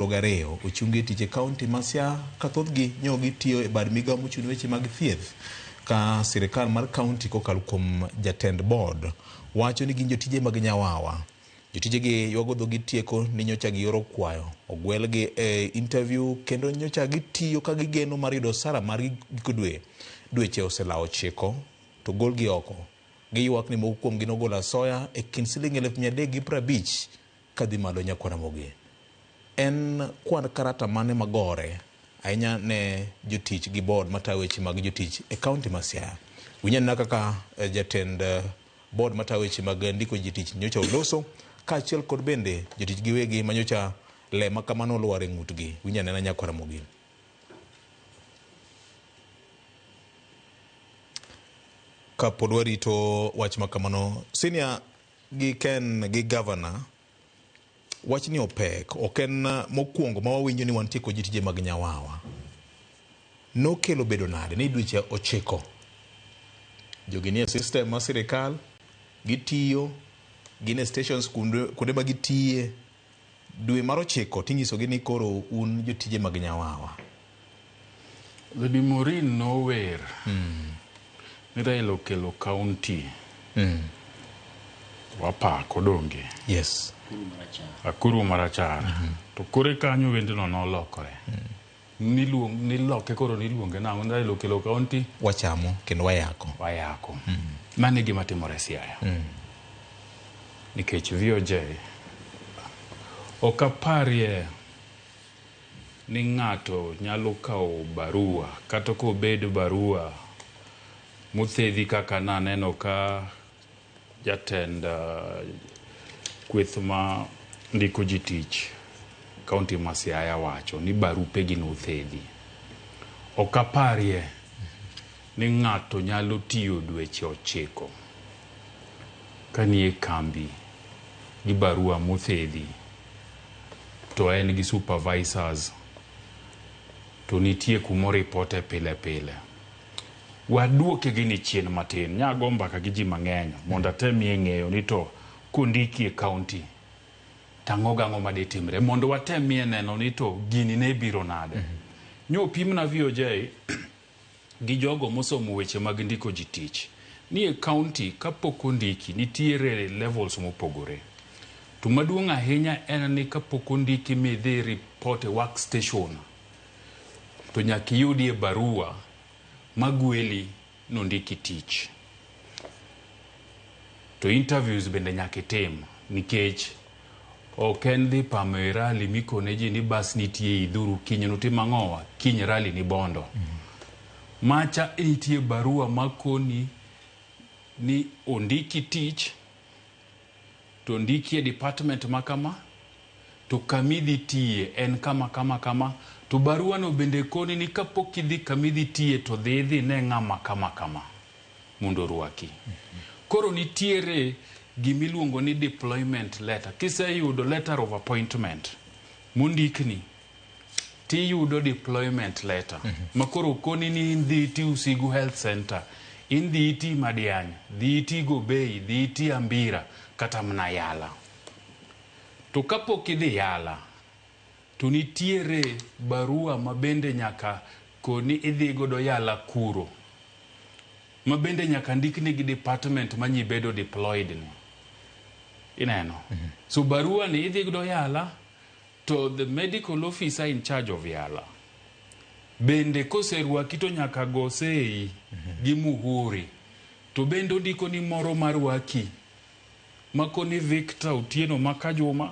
aboro gariyo ochungi e tich e kaunti ma Siaya ka thothgi nyo gitiyo e bad migawo mochung' ne weche mag thieth ka sirkal mar kaunti kokalo kuom jatend bod wacho ni gin jotije mag Nyawawa. Jotijegi ywago dhogi tieko ni nyocha gioro kwayo ogwelgi e interview kendo nyocha gitiyo ka gigeno mar yudo osara margi giko dwe. Dweche oselawo chiko to golgi oko. Giywak ni moko kuomgi nogolo asoya e kind siling eluf mia adek gi prabich Ka dhi malo Nyakwar Ramogi, en kwand karata mane ma gore ahinya ne jotich gi board matayo weche mag jotich e kaunti ma Siaya? Winj anena kaka jatend board matayo weche mag ndiko jitich nyocha oloso kaachiel kod bende jotich giwegi ma nyocha le ma kamano olwar e ng'utgi. Winj anena Nyakwar Ramogi. Ka pod warito wach ma kamano, Senior gi Ken gi Governor, wachni opek, ok en mokuongo ma wawinjo ni wantie kod jotije mag Nyawawa. Nokelo bedo nade ni dweche ochiko jogi nie system mar sirikal, gitiyo, gin e stations kuonde ma gitiye, Dwe mar ochiko tinyisogi ni koro un jotije mag Nyawawa. Lady Maureen nower mm. ni Raila okelo county mm. wapako donge yes. Akuru Marachar mm -hmm. to kore kanyo wendno nolokore mm. Niluong, niloke koro niluonge nang'o? Nidhi loke lo kaunti? Wachamo kendo wayako. Wayako. Mm. Mano e gima timore Siaya. Mm. Nikech VOJ ok aparie ni ng'ato nyalo kawo barua kata kobed barua mothedhi kaka naneno ka Jatend kweth ma ndiko ji tich kaunti ma Siaya wacho ni barupegi nothedhi. Ok aparie ni ng'ato nyalo tiyo dweche ochiko kanie kambi gi barua mothedhi to en gi supervisors to nitie kuma oripote pile pile. Waduoke gini chien matin. Nya go mbaka gi ji mang'eny mondo atemie ng'eyo ni to kondiki e county to ang'o gang'o ma de timre mondo watemie neno ni to gini ne biro nade. Mm -hmm. Nyo pimna VOJ gi jogo mosomo weche mag ndiko ji tich ni e county kapok ondiki nitiere levels mopogore. To maduong' ahinya en ni kapok ondiki midhi report e workstation to nyaka iyudie barua magweli nondiki tich. To interviews bende nyaka itim nikech ok en dhi pamo e rally mikone ji ni bas nitie idhuru kiny nutim ang'owa kiny rally ni bondo. Macha nitie barua makoni ni ondiki tich to ndiki e department ma kama, to kama idhi tiye en kama kama kama, to baruano bende koni ni kapok idhi kama idhi tiye to dhi idhi ine ng'ama kama kama mondo orwaki. Koro nitiere gima iluongo ni deployment letter. Kiseyudo letter of appointment mondikni, tiyudo deployment letter mm -hmm. makoro koni ni in dhi iti Usigu Health Center, in dhi iti Madiany, dhi iti Gobei, dhi iti Ambira kata mna Yala. To kapok idhi Yala to nitiere barua mabende nyaka koni idhi godo Yala kuro mabende nyaka ndikni gi department manyi bedo deployed ni. Ineno. Mm -hmm. So barua ni idhi godo Yala To the medical officer in charge of Yala bende koserwaki to nyaka go sei gi muhuri to bende ondiko ni moro marwaki makoni Victor Otieno Makajuma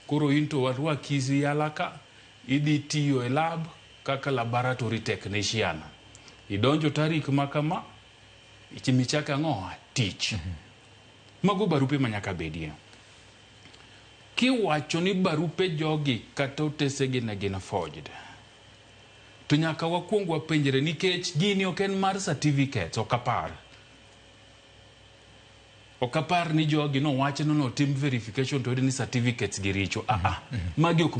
koro into warwaki Yala ka idhi tiyo e lab kaka laboratory technician idonjo tarik ma kama michako ang'owa tich. Mago barupe manyaka bedie. Kiwacho ni barupe jogi kata otesegi ne gin forged, to nyaka wakuong wapenjre nikech gini ok en mar certificates, ok apar. Ok apar ni jogi nowach ni notim verification to oyud ni certificates gi richo, a a. Magi ok